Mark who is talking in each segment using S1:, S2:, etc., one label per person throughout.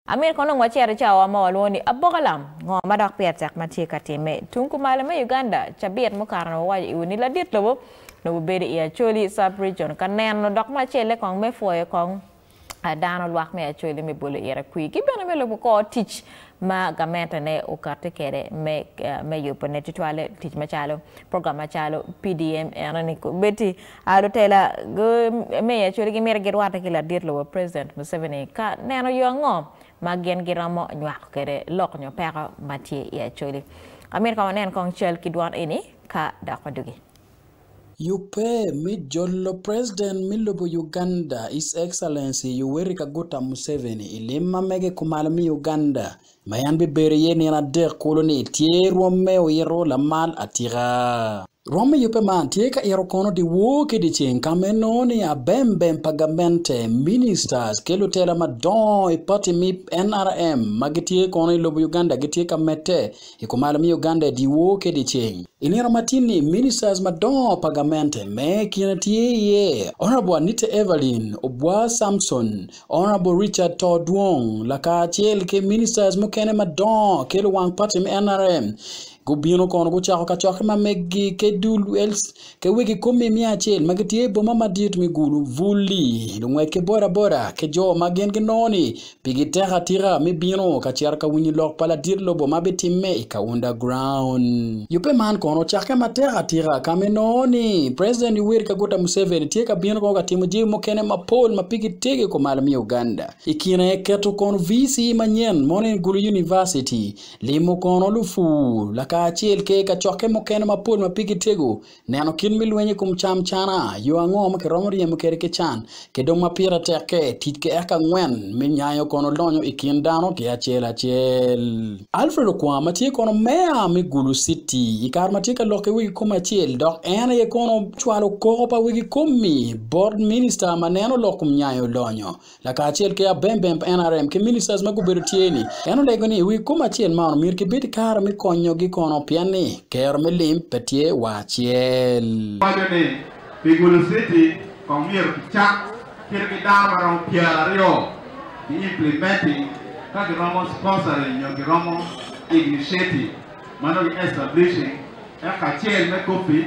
S1: Amyero kono onongo acito i cawa ma walwongo ni aboka lam? Ngo ma dok pire tek ma tye ka timme? Tung kumalo me Uganda, cabit mukato-ni wawaco iwa ni ladit lobo nongo bibedo i Acholi Sub-Region ka neno dok me acel aye kong me pwoyo kong dano lwak me Acholi me bolo ire kwir ki bene me lubo kor tic ma gamentene okati kede me yubone tutwale tic macalo program macalo PDM eno ni kobedi A Lutela me Acholi gimito girwatte ki ladit lobo President Museveni ka neno yo ango ma gin giromo nywako kwede lok nyo peko ma tye i Acholi. Amito ka wanen kong cal ki dwan eni ka dok wadugi. Yubbe
S2: me jolo President me lobo Uganda His Excellency Yoweri Kaguta Museveni i lim ma mege kumalo me Uganda ma en bibedo iye nino adek kulu ni tye rwomme oyito lamal atika. Rwom me yubbe man tye ka ito kono dyewor ki dyeceng ka ma inongo ni abembem pa gamente, ministers, ki lutela madongo i pati me nrm ma gitye kono i lobo Uganda gitye ka medde i kumalo me Uganda i dyewor ki dyeceng. I nino ma tin ni ministers madongo pa gamente me i kine tye iye Honourable Anita Evelyn Obwar Samson, Honourable Richard Tor Dwong lakacel ki ministers mukene madongo ki luwang party me nrm gubino kono gucako kacokke ma meggi ki dul els ki wegi kumi i miya acel ma gitye i boma madit me Gulu, Buli, lungwec ki bodaboda ki jo ma gin ginongo ni pigi tek atika me bino ka cito ka winyo lok pa ladit lobo ma bitimme i Kaunda Ground. Yubbe man kono ocakke matek atika ka ma inongo ni President Yoweri Kaguta Museveni tye ka bino ka timo jami mukene mapol ma pigi tye ki kumalo me Uganda. I kine keto kono VC manyen mono en Gulu University, limo kono lupur, lakacel ke kacokke mukene mapol ma pigi tego. Neno kit me lweny i kom cam cana, yo ango ma kiromo ryemo kwede ki can, ki dong ma pire tekke, tic ki eka angwen me nyayo kono lonyo i kin dano ki acel acel. Alfred Okwang ma tye kono Meya me Gulu Citi i kare ma tye ka lokke wegi kom acel dok en aye kono ocwalo koko pa wegi kom-mi bot Minista ma neno lok kom nyayo lonyo, lakacel ki abembemb nrm ki ministers ma gubedo tye ni en olego ni wi kom acel man omyero ki bed ki kare me konyo gi kono pien ni kero me lim pe tye wa acel. Waco ni
S3: pi gulu city kong myero ki cak kit ki dano ma romo pyera aryo ki implementing ka ki romo sponsoring nyo ki romo ignitiative ma nongo ki establishing eka acel me coffee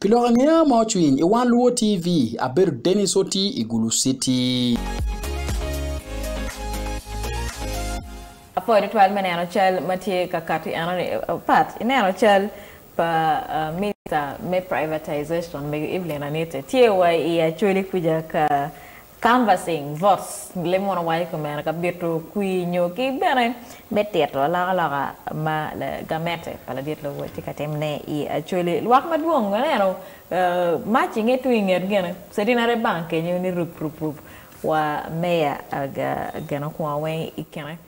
S2: Pi lok angeya ma ocwiny i Wan Luo TV, abedo Dennis Oti i Gulu Citi.
S1: Apoyo tutwal me neno cal ma tye ka kati enoni. Pat ineno cal pa Minista me Privatization, Mego Evelyn Anite, tye wa i Acholi kwica ka Canvassing votes, Limwono wang i komera ka bito kwir nyo ki bene me tito alokaloka ma gamente pa ladit lobo tye ka tim ne i Acholi. Lwak madwong ma aneno mac i nge tung i nget gene Centenary Bank kenyo ni rub rub rub wa Meya geno kwongo weng i kine.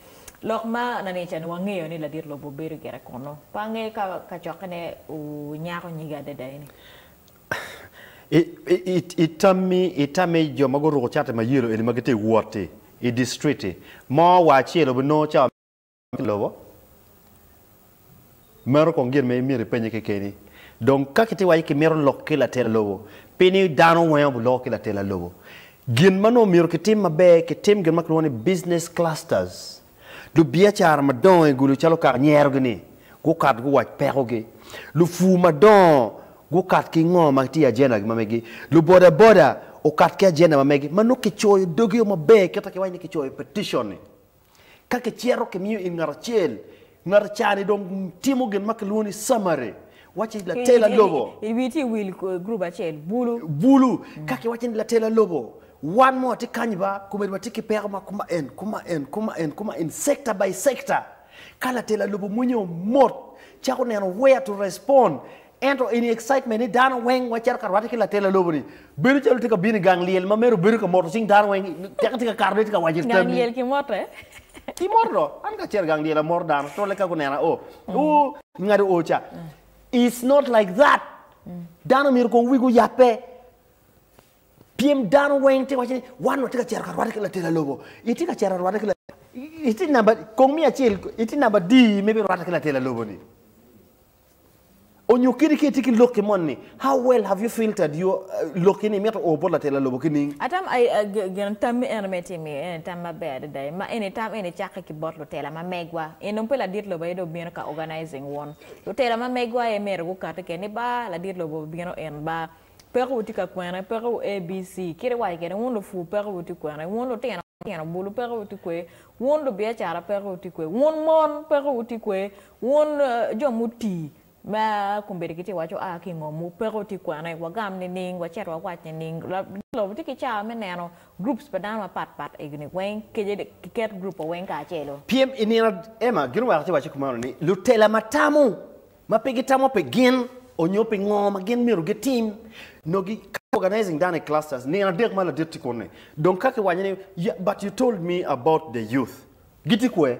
S1: Lok ma lanica ni wangeyo ni ladit lobo bedo gire kunu? Pe angeyo ka kacokke ne onyako nyige adada eni.
S4: I tammi, itamme i jo ma guruko cati ma yelo eni ma gitye ka wot i distritti mo wa acel obinongo cawa me kwo me lobo? Meno kong gin ma myero ipennye kekeni. Dong ka kitye ka waco ni kimito lok ki latela lobo, pi ni dano weng aye biloko ki latela lobo. Gin ma nongo myero kitim maber, kitim gin ma kilwongo ni business clusters. Lubiacara madongo i gulu calo kak nyerogi ni gukat guwac pekogi. Lupur madongo gukat ki ngo ma tye i ajendagi ma megi. Lubodaboda okat ki ajenda ma megi ma nongo kicoyo dogi o maber kit ma kiwaco ni kicoyo peticion-ni. Ka kicito kimiyo in ngat acel, ngat ca-ni dong timo gin ma kilwongo ni summary Wacci ni latela lobo. I wi tye wil
S1: group acel, bulu. Bulu.
S4: Ka ki wacci ni latela lobo, wan mo watye kanyi ba, komedi watye ki peko ma kuma en, kuma en, kuma en, kuma en, sector by sector. Ka latela lobo mwenye omot, cako neno where to respond. Ento in excitement ni dano weng wacito ka rwate ki latela lobo ni, Bedo calo tye ka bino i gang lyel ma mere obedo ka moto cing dano weng, teke tye ka kato tye ka waco tammi. Gang lyel ki mote.
S1: Ki moto
S4: do, an ka cito gang lyel amoto dano, tole ka gunena o, o, ngado o ca. It's not like that. Dano myero kong wigi oyabbe. Pyem dano weng tye waco ni wan watye ka cito ka rwate ki latela lobo. Itye ka cito rwate ki latela, itye namba, kong mi acel, itye namba adi me bi rwate ki latela lobo ni? Onyo kadi ka itye ki lokki moni, how well have you filtered your uh, lokki ni mito o bot latela lobo ki ning? Atam ai a ge-
S1: geno tam mi eno me tim i ene tam maber adada i ma eni tam eni cakke ki bot lutela ma megwa i nung pe ladit lobo aye dong bino ka organizing wun lutela ma megwa aye myero gukati kene ni ba ladit lobo bino in ba peko wu tye ka kwene peko wu abc kit iwaco kene wun lupur peko wu tye kwene wun lutino tino bulu peko wu tye kwe wun lubiacara peko wu tye kwe wun mon peko wu tye kwe Wun jo muti, ma kombeddi gitye ka waco, 'A ki i ngom wu, peko tye kwene, wagam nining, wacit wawac nining? Lagit lobo tye ki cawa me neno groups pa dano mapat pat egini weng, kece dek kiket group wa weng kacelo. Pyem i nino,
S4: Emma gin oweko ci waco kumeno ni, Lutela ma tamo, ma pe gitamo pi gin onyo pi ngo ma gin myero gitim, nongo gi organizing dano i clusters nino adek ma ladit tye kuni, dong ka ki wanyo ni, But you told me about the youth, gitye kwe?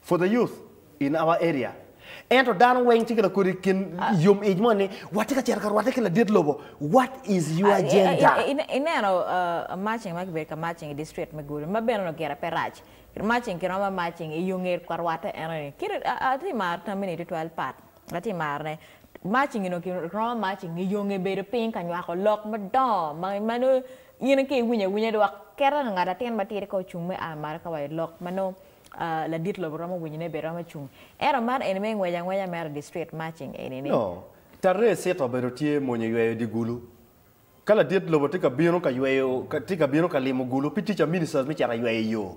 S4: For the youth in our area ento dano weng tye ki la kodi kin yom ic mo ni watye ka cito ka rwate ki ladit lobo what is your ah, agenda? I, i, i, neno
S1: uh, marching ma kibedo ka marching i district me Gulu ma bene gire pe rac. Marching kiromo marching i yo nget ka rwate eno ni. Kit ati maro tamini tutwal pat. Ati maro ne. Marching ino kiromo marching i yo nge bedo piny ka nywako lok madongo ma ma no in ke iwinyo awinya dok kere ngat atin matidi ka ocung me a malo ka wa i lok ma no Ladit lobo romo winyo ne be romo cung. Ento man eni me ngwec angwenya mere district marching eni ni. No. Taree
S4: sita obedo tye mwonyo yweyo di gulu. Ka ladit lobo tye ka bino ka yweyo tye ka bino ka limo gulu pi teacher ministers me cito yweyo yo.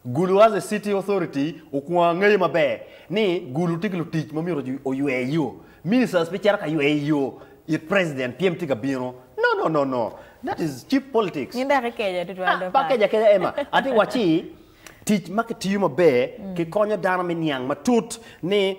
S4: Gulu as a city authority okwongo angeyo maber ni gulu tye ki lutic ma myero oywer yo. Ministers pe cito ka yweyo yo it president pyem tye ka bino. No no no no. That is cheap politics. Nyin dok ikeca tutwal
S1: do pa. Pe akeca akeca Emma.
S4: Ati waci. Tic ma kitiyo maber kikonyo dano me niang matut ni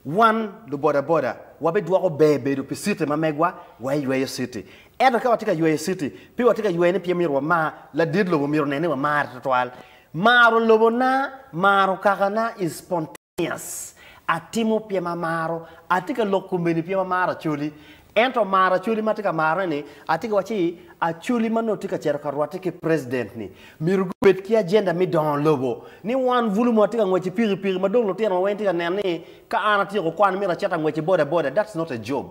S4: wan lubodaboda wabidwoko ber bedo pi citi ma megwa wa eyweyo citi. Ento ka watye ka yweyo citi, pe watye ka yweyone pien myero wamar ladit lobo, myero onen ni wamare tutwal. Maro lobona, maro kakana is spontaneous. Yes, atimo pyem amaro. Atye ka lok kumeni pyem amaro acholi. Ento amaro acholi ma atye ka marone ni, atye ka waco ni acholi ma nongo tye ka cito ka rwatte ki president ni myero gubed ki agenda me dongo lobo. Ni wan bulu ma watye ka ngwec ki pikipiki ma dong lutinowa weng tye ka neno ni ka an atyeko kwan myero acit angwec ki bodaboda, that's not a job.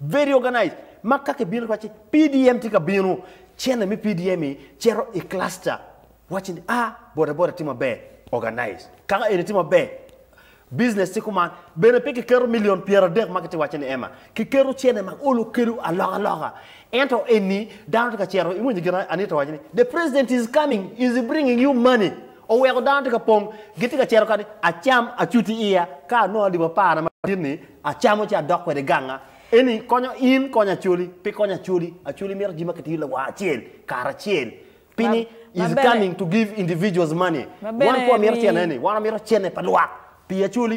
S4: Very organized ma ka kibino kiwacci PDM tye ka bino, cene me PDM-mi cito i cluster wacci ni a bodaboda tye maber organized, kaka eni tye maber business tye kuman. Bene pe kiketo milion pyeradek ma kitye ka wacce ni ema, kiketo cene ma olo kelo alokaloka. Ento eni dano tye ka cito, iwinyo gin Anita owaco ni, The president is coming, is bringing you money. Oweko dano tye ka pong, gitye ka cito kadi, acam, acuti iya, ka anongo adibo aparna madit-ni, acamo ci adok kwede ganga. Eni konyo in, konyo Acholi. Pe konyo Acholi. Acholi mito jami ma kitiyo lawor acel, kare acel. Pi ni, Ma is bene. coming to give individuals money. Ma Wan bene kwo mito ni. cene-ni, wan wamito cene pa lwak. Pi Acholi.